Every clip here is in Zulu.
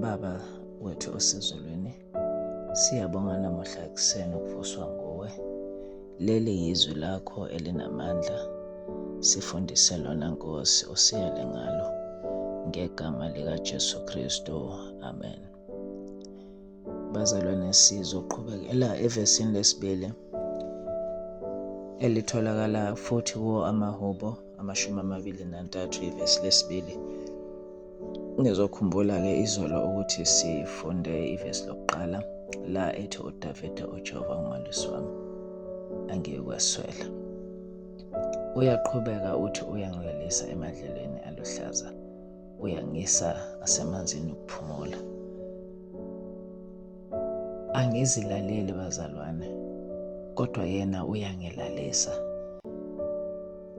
Baba wethu osezulwini, siyabonga namuhla ekuseni ukuvuswa nguwe. Leli yizwi lakho elinamandla, sifundise lona Nkosi, usiyale ngalo ngegama likaJesu Kristu. Amen. Bazalwane, sizoqhubekela evesini lesibili elitholakala futhi kuwo amahubo amashumi amabili nantathu ivesi lesibili nizokhumbula-ke izolo ukuthi sifunde ivesi lokuqala la ethi udavide ujehova umalusi wami angiyikweswela uyaqhubeka uthi uyangilalisa emadlelweni aluhlaza uyangisa asemanzini ukuphumula Angizilaleli bazalwane, kodwa yena uyangilalisa.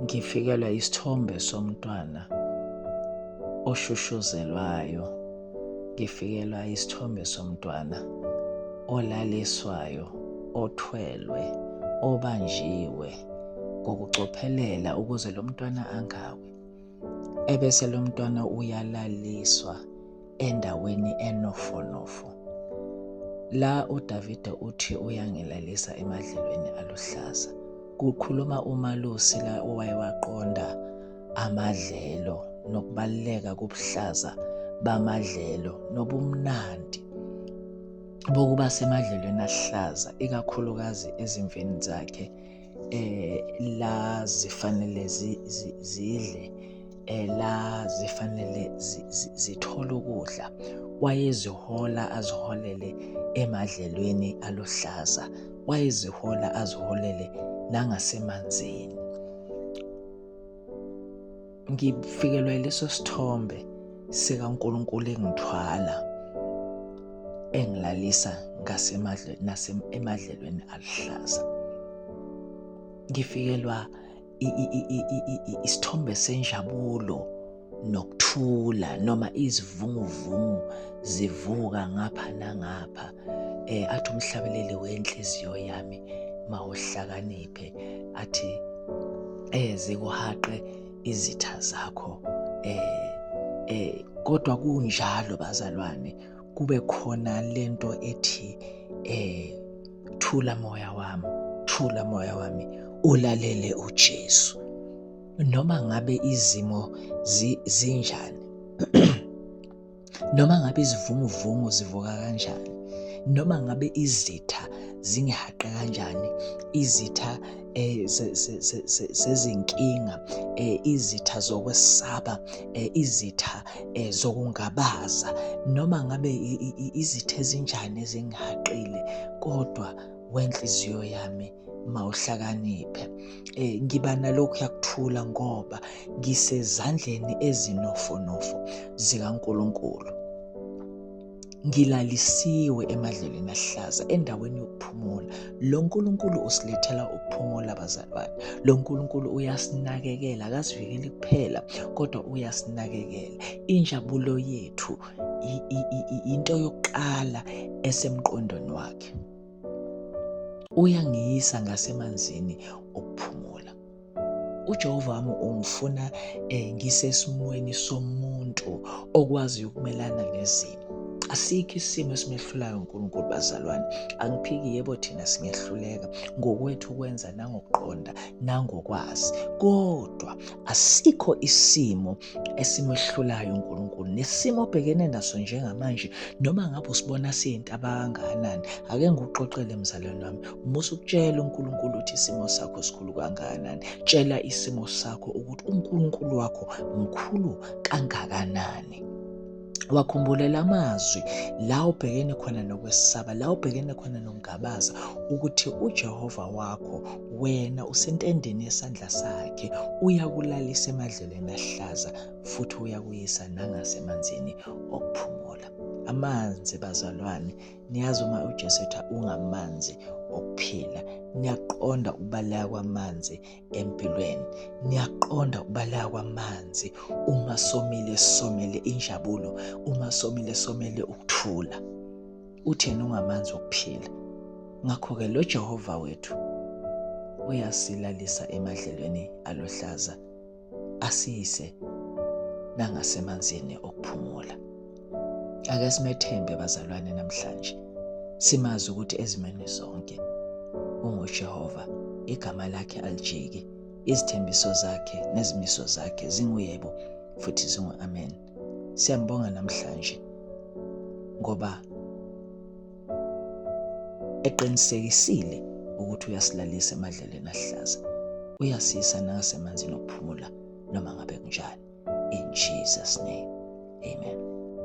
Ngifikelwa isithombe somntwana oshushuzelwayo, ngifikelwa isithombe somntwana olaliswayo, othwelwe, obanjiwe ngokucophelela ukuze lo mntwana angawi. Ebese lo mntwana uyalaliswa endaweni enofonofo la uDavide uthi uyangilalisa emadlelweni aluhlaza kukhuluma umalusi la owaye waqonda amadlelo nokubaluleka kobuhlaza bamadlelo nobumnandi bokuba semadlelweni ahlaza ikakhulukazi ezimveni zakhe eh la zifanele zidle eh, la zifanele zithole ukudla wayezihola aziholele emadlelweni aluhlaza wayezihola aziholele nangasemanzini ngifikelwa yileso sithombe sikaNkulunkulu engithwala engilalisa ngasemadlweni nasemadlelweni aluhlaza ngifikelwa isithombe senjabulo nokuthula noma izivunguvungu zivuka ngapha nangapha eh athi umhlabeleli wenhliziyo yami mawuhlakaniphe athi eh zikuhaqe izitha zakho eh eh kodwa kunjalo bazalwane kube khona lento ethi eh thula moya wami thula moya wami ulalele uJesu noma ngabe izimo zinjani noma ngabe izivunguvungu zivuka kanjani noma ngabe izitha zingihaqe kanjani izitha eh, zezinkinga eh, izitha zokwesaba eh, izitha zokungabaza noma ngabe izitha ezinjani ezingihaqile kodwa wenhliziyo yami mawuhlakaniphe eh ngiba nalokhu yakuthula ngoba ngisezandleni ezinofonofo zikaNkuluNkulu ngilalisiwe emadlelweni ahlaza endaweni yokuphumula lo nkulunkulu usilethela ukuphumula bazalwane lo nkulunkulu uyasinakekela akasivikeli kuphela kodwa uyasinakekela injabulo yethu into yokuqala esemqondweni wakhe Uyangiyisa ngasemanzini okuphumula. UJehova wami ungifuna eh, ngisesimweni somuntu okwazi ukumelana nezimo. Asikho isimo esimehlulayo uNkulunkulu bazalwane. Angiphiki yebo thina singehluleka ngokwethu ukwenza nangokuqonda nangokwazi. Kodwa asikho isimo esimehlulayo uNkulunkulu nesimo obhekene naso njengamanje noma ngabe usibona siyinto abangakanani ake ngikuxoxele mzalwane wami uma usukutshela uNkulunkulu ukuthi isimo sakho sikhulu kangakanani tshela isimo sakho ukuthi uNkulunkulu wakho mkhulu kangakanani wakhumbulela amazwi la ubhekene khona nokwesaba la ubhekene khona nokungabaza ukuthi uJehova wakho wena usentendeni yesandla sakhe uyakulalisa emadlelweni ahlaza futhi uyakuyisa nangasemanzini okuphumula amanzi bazalwane niyazi uma uJesu etha ungamanzi okuphila niyaqonda ukubaleka kwamanzi empilweni niyaqonda ukubaleka kwamanzi uma somile somele injabulo uma somile somele ukuthula uthena ungamanzi okuphila ngakho-ke lo jehova wethu uyasilalisa emadlelweni aluhlaza asiyise nangasemanzini okuphumula Ake simethembe bazalwane namhlanje. Simazi ukuthi ezimeni zonke unguJehova, igama lakhe alijiki, izithembiso zakhe nezimiso zakhe zinguyebo futhi zingu-amen. Siyambonga namhlanje ngoba eqinisekisile ukuthi uyasilalisa emadlelweni ahlaza uyasisa nakasemanzini okuphumula noma ngabe kunjani in Jesus name amen